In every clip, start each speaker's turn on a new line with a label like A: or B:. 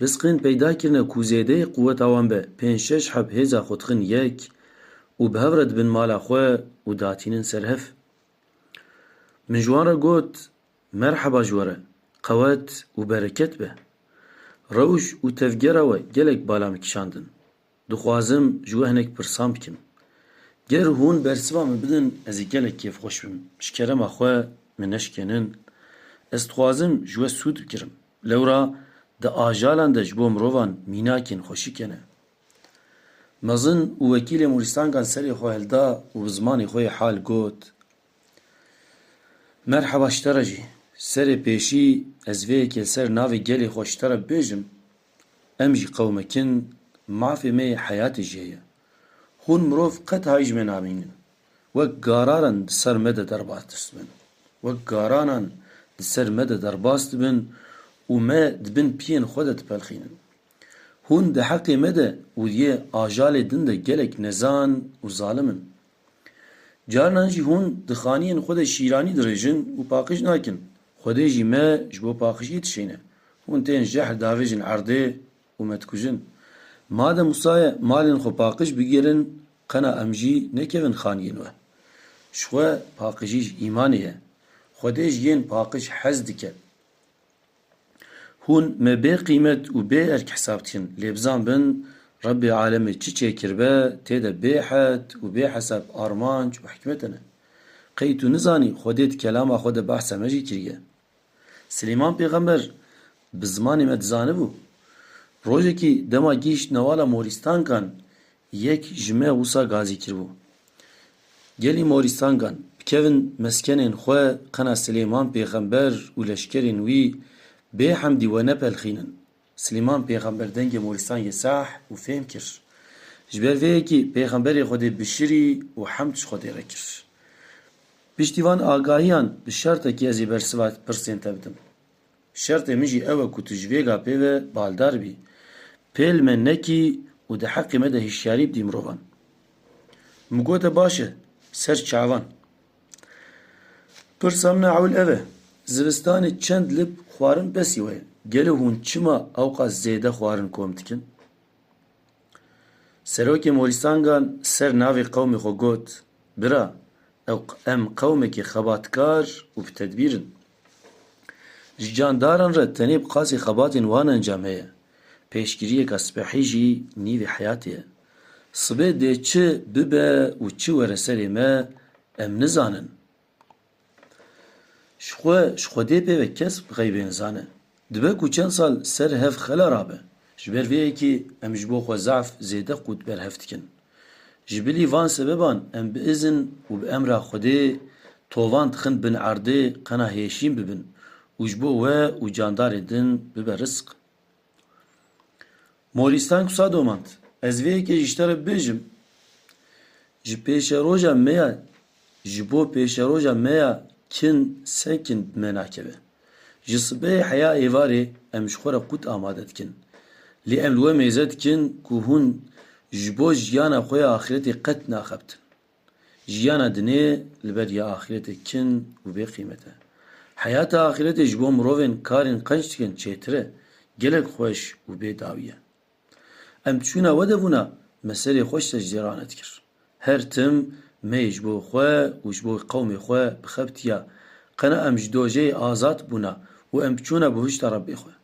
A: Risqên peyda kirine ku zêdeyê quweta wan be pênc şeş heb hêza xwe dixin yek û bi hev re dibin mala xwe û datînin ser hev. Min ji wan re got, Merheba ji we re, qewet û bereket be. Rewş û tevgera we gelek bala min kişandin. Dixwazim ji we hinek pirsan bikim. Ger hûn bersiva min bidin ez ê gelek kêfxweş bim. Ji kerema xwe min neşikênin. Ez dixwazim ji we sûd bigirim. Lewra di ajalan de ji bo mirovan mînakên xweşik hene. Mezin û wekîlê Moristangan serê xwe hilda û bi zimanê xwe yê hal got, Merheba ji te re jî. Serê pêşî ez vê yekê li ser navê gelê xwe ji te re bibêjim. Em jî qewmek in, mafê me yê heyatê jê ye. Hûn mirov qet hay ji me namînin. Wek gararan di ser me de derbas distibin. Wek garanan di ser me de derbas dibin û me di bin piyên xwe de dipelxînin. Hûn di heqê me de û yê ajalê din de gelek nezan û zalim in. Carinan jî hûn di xaniyên xwe de şîranî dirêjin û paqij nakin. Xwedê jî me ji bo paqijiyê dişêne. Hûn tên jehr davêjin erdê û me dikujin. Madem wisa ye malên xwe paqij bigirin qena em jî nekevin xaniyên we. Ji xwe paqijî ji îmanê ye. Xwedê ji yên paqij hez dike. Hûn me bê qîmet û bê erk hesab dikin. Lê bizan bin Rebbê alemê çi çêkiribe tê de bê het û bê hesab armanc û hikmete ne. Qey tu nizanî Xwedê di kelama xwe de behsa me jî kiriye. Silêman pêxember bi zimanê me dizanibû. Rojekî dema gihîşt newala morîstankan Yek ji me wisa gazî kiribû. Gelî Morîstangan bikevin meskenên xwe qena Silêman Pêxember û leşkerên wî bê hemdî we nepelxînin. Silêman Pêxember dengê Morîstangê sah û fêm kir. Ji ber vê yekê Pêxemberê Xwedê bişirî û hemd ji Xwedê re kir. Piştî van agahiyan bi şertekî ez ê bersiva pirsên te bidim. Şertê min jî ew e ku tu ji vêga pêve baldar bî. Pêl me nekî û di heqê me de hişyarî bidî mirovan. Min gote baş e, ser çavan. Pirsa min a ewil ev e, zivistanê çend lib xwarin besî we ye? Gelo hûn çima ewqas zêde xwarin kom dikin? Serokê Morîsangan ser navê qewmê xwe got, Bira, em qewmekê xebatkar û bi tedbîr in. Ji candaran re tenê bi qasî xebatên wan encam heye. Pêşgiriyeka sibehî jî nîvê heyatê ye. Sibê dê çi bibe û çi were serê me em nizanin. Ji xwe ji xwedê pê ve kes bi xeybê nizane. Dibe ku çend sal ser hev xela rabe. Ji ber vê yekê em ji bo xwe zaf zêde qût berhev dikin. Ji bilî van sebeban em bi izin û bi emra Xwedê tovan dixin bin erdê qena hêşîn bibin û ji bo we û candarên din bibe rizq. Morîstan kusa domand, Ez vê yekê ji te re bibêjim, ji pêşeroja me ya ji bo pêşeroja me ya kin se kin bi me nakeve. Ji sibehê heya êvarê em ji xwe re qût amade dikin. Lê em li we mêze dikin ku hûn ji bo jiyana xwe ya axiretê qet naxebtin. Jiyana dinê li ber ya axîretê kin û bê qîmet e. Heyata axîretê ji bo mirovên karên qenc dikin çêtir e, gelek xweş û bê dawî ye. Em çûna we de bûna me serê xwe ji secdê ranet kir. Her tim me yê ji bo xwe û ji bo qewmê xwe bixebitiya. Qena em ji dojeyê azad bûna û em çûna bihuşta Rebbê xwe.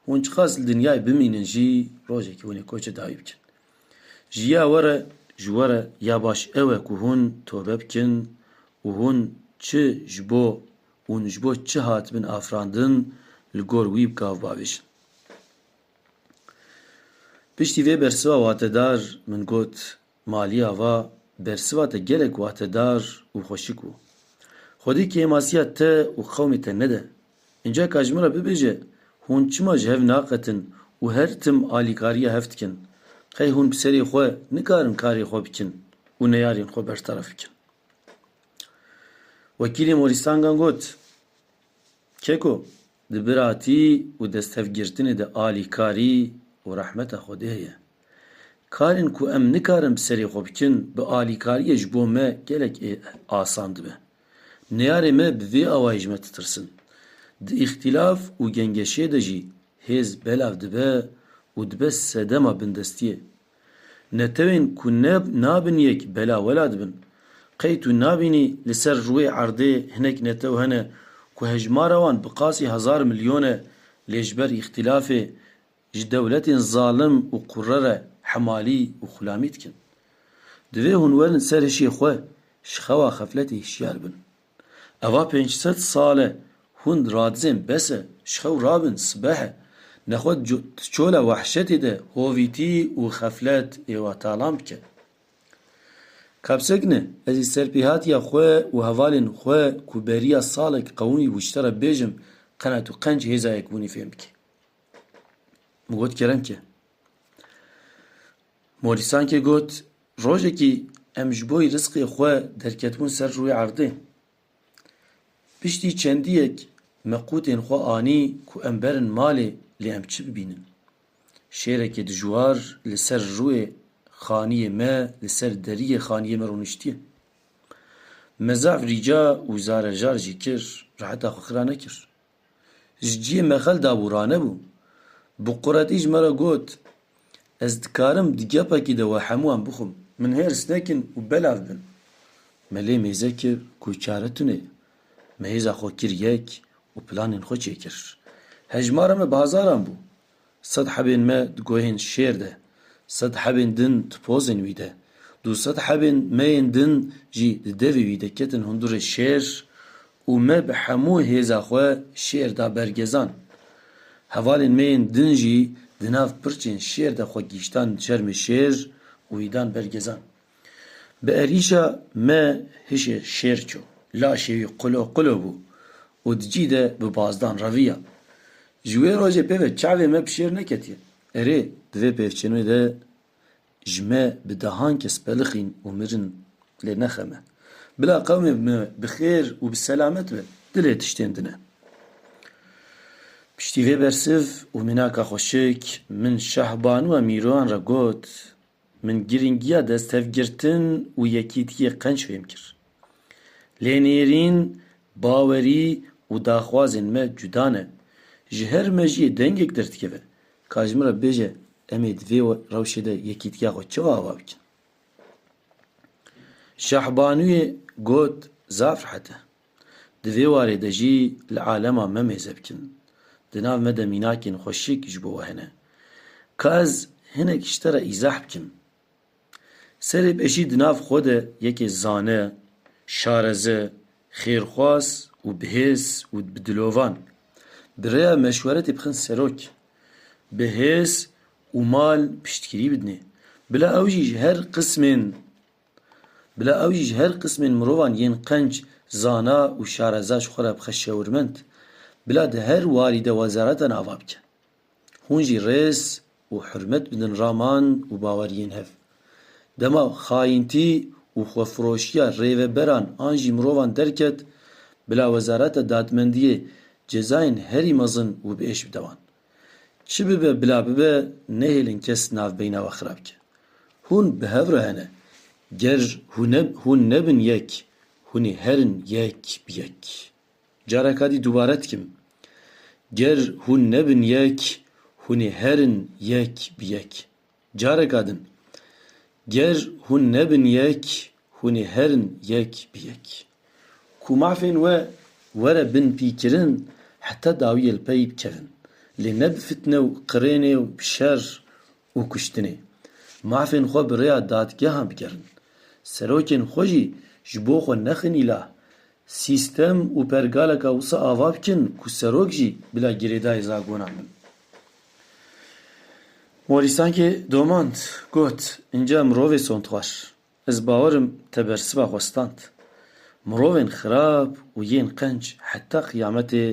A: Hûn çiqas li dinyayê bimînin jî rojekî hûn ê koçê dayî bikin. Ji ya we re ji we re ya baş ew e ku hûn tobe bikin û hûn çi ji bo hûn ji bo çi hatibin afirandin li gor wî bi gav bavêjin. Piştî vê bersiva watedar min got, Maliya va, Bersiva te gelek wahtedar û xweşik bû. Xwedî kêmasiya te û qewmê te nede. Înca ka ji min re bibêje, hûn çima ji hev naqetin û her tim alîkariya hev dikin? Qey hûn bi serê xwe nikarin karê xwe bikin û neyarên xwe bertaraf bikin? Wekîlê Morîstangan got, Keko, Di biratî û desthevgirtinê de alîkarî û rehmeta Xwedê heye. Karên ku em nikarin bi serê xwe bikin, bi alîkariyê ji bo me gelek asan dibe. Neyarê me bi vê awayî ji me titirsin. Di îxtîlaf û gengeşê de jî hêz belav dibe û dibe sedema bindestiyê. Netewên ku ne nabin yek bela wela dibin. Qey tu nabînî li ser rûyê erdê hinek netew hene ku hejmara wan bi qasî hezar milyon e lê ji ber îxtîlafê ji dewletên zalim û qurre re hemalî û xulamî dikin. Divê hûn werin ser hişê xwe ji xewa xefletê hişyar bin. Eva pênc sed sal e hûn radizên bes e, ji xew rabin sibeh e. Nexwe di çola wehşetê de hovîtî û xeflet ê wa talan bike. Kapsekine ezî serpêhatiya xwe û hevalên xwe ku beriya salek qewimî bû ji te re bêjim qenet û qenc hêza yekbûnî fêm bike. Min got kerem ke. Morîsankê got, Rojekî em ji bo risqê xwe derketibûn ser rûyê erdê. Piştî çendiyek me qûtên xwe anî ku em berin malê lê em çi bibînin. Şêrekê dijwar li ser rûyê xaniyê me li ser deriyê xaniyê me rûniştiye. Me zaf rîca û zarejar jî kir, reheta xwe xira nekir. Ji cihê me xel dabû, ranebû. Bi quretî ji me re got, Ez dikarim di gepekî de we hemû em bixwim. Min hêrs nekin û belav bin. Me lê mêze kir ku çare tune ye. Me hêza xwe kir yek û planên xwe çêkir. Hejmara me bi hezaran bû. Sed hebên me di guhên şêr de, sed hebên din di pozên wî de, du sed hebên me yên din jî di devê wî de ketin hundurê şêr û me bi hemû hêza xwe şêr da ber gezan. Hevalên me yên din jî di nav pirçên şêr de xwe gihîştan çermê şêr û wî dan ber gezan. Bi erîşa me hişê şêr çû. Laşê wî qulo qulo bû û di cî de bi bazdan reviya. Ji wê rojê pêve çavê me bi şêr neketiye. Erê, di vê pêvçênê de ji me bi dehan kes pelixîn û mirin lê nexeme. Bila qewmê me bi xêr û bi selamet be, dilê tiştên din e. Piştî vê bersiv û mînaka xweşik, min Şahbanu a Mîroan re got, Min girîngiya desthevgirtin û yekîtiyê qenc fêm kir. Lê nêrîn, bawerî û daxwazên me cuda ne. Ji her mejiyê dengek derdikeve ka ji min re bibêje em ê di vê rewşê de yekîtiya xwe çawa ava bikin. Şahbanuyê got, Zaf rehet e. Di vê warê de jî li alema me mêze bikin. Di nav me de mînakên xwe şik ji bo we hene. Ka ez hinek ji te re îzah bikim. Serê pêşî di nav xwe de yekê zane, şareze, xêrxwaz û bihêz û bi dilovan bi rêya meşweretê bixin serok, bi hêz û mal piştgirî bidinê. Bila ew jî ji her qismên. Bila ew jî ji her qismên mirovan yên qenc, zana û şareza ji xwe re bixe şewirmend. Bila di her warî de wezareta nava bike. Hûn jî rêz û hurmet bidin raman û baweriyên hev. Dema xayintî û xwefiroşiya rêveberan an jî mirovan derket, bila wezareta dadmendiyê cezayên herî mezin û bi êş bide wan. Çi bibe bila bibe nehêlin kes navbeyna we xirab ke. Hûn bi hev re hene. Ger hûn nebin yek, hûn ê herin yek bi yek. Careka dî dubare dikim. Ger hûn nebin yek, hûn ê herin yek bi yek. Careka din, ger hûn nebin yek, hûn ê herin yek bi yek. Ku mafên we were bin pîkirin, heta dawiyê li pey bikevin. Lê ne bi fitne û qirênê û bi şer û kuştinê. Mafên xwe bi rêya dadgehan bigerin. Serokên xwe jî ji bo xwe nexin îlah. Sîstem û pergaleka wisa ava bikin ku serok jî bila girêdayê zagonan bin. Morîsakê domand, got, Înca mirovê sondxwar. Ez bawer im te bersiva xwe stand. Mirovên xirab û yên qenc heta qiyametê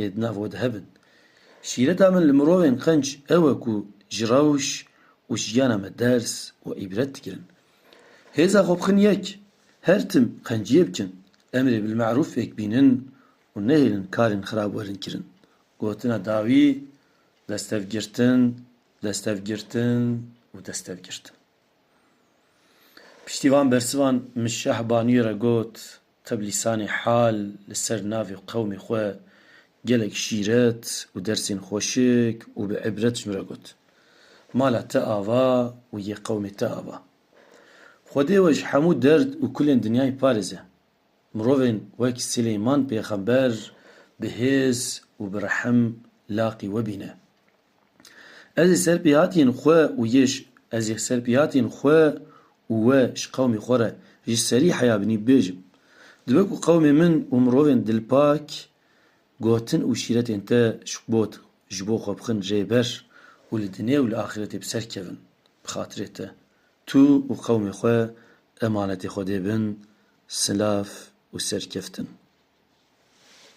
A: ê di nav we de hebin. Şîreta min li mirovên qenc ew e ku ji rewş û jiyana me ders û îbret digirin. Hêza xwe bixin yek, her tim qenciyê bikin, emrê bilme'rûf fêk bînin û nehêlin karên xirab werin kirin. Gotina dawî, destevgirtin, destevgirtin û destevgirtin. Piştî van bersivan min Şah Baniyê re got, te bi lîsanê hal li ser navê qewmê xwe gelek şîret û dersên xweşik û bi îbret ji min re got. Mala te ava û yê qewmê te ava. Xwedê we ji hemû derd û kulên dinyayê parêze. Mirovên wek Silêman pêxember bi hêz û bi rehm laqî we bîne. Ez ê ser pêhatiyên xwe û yêj ez ê ser pêhatiyên xwe û we ji qewmê xwe re ji serî heya binî bibêjim. Dibe ku qewmê min û mirovên dilpak gotin û şîretên te ji got ji bo xwe bixin rê ber û li dinê û li axîretê bi ser kevin bi xatirê te. Tu û qewmê xwe emanetê Xwedê bin, silav û serkeftin.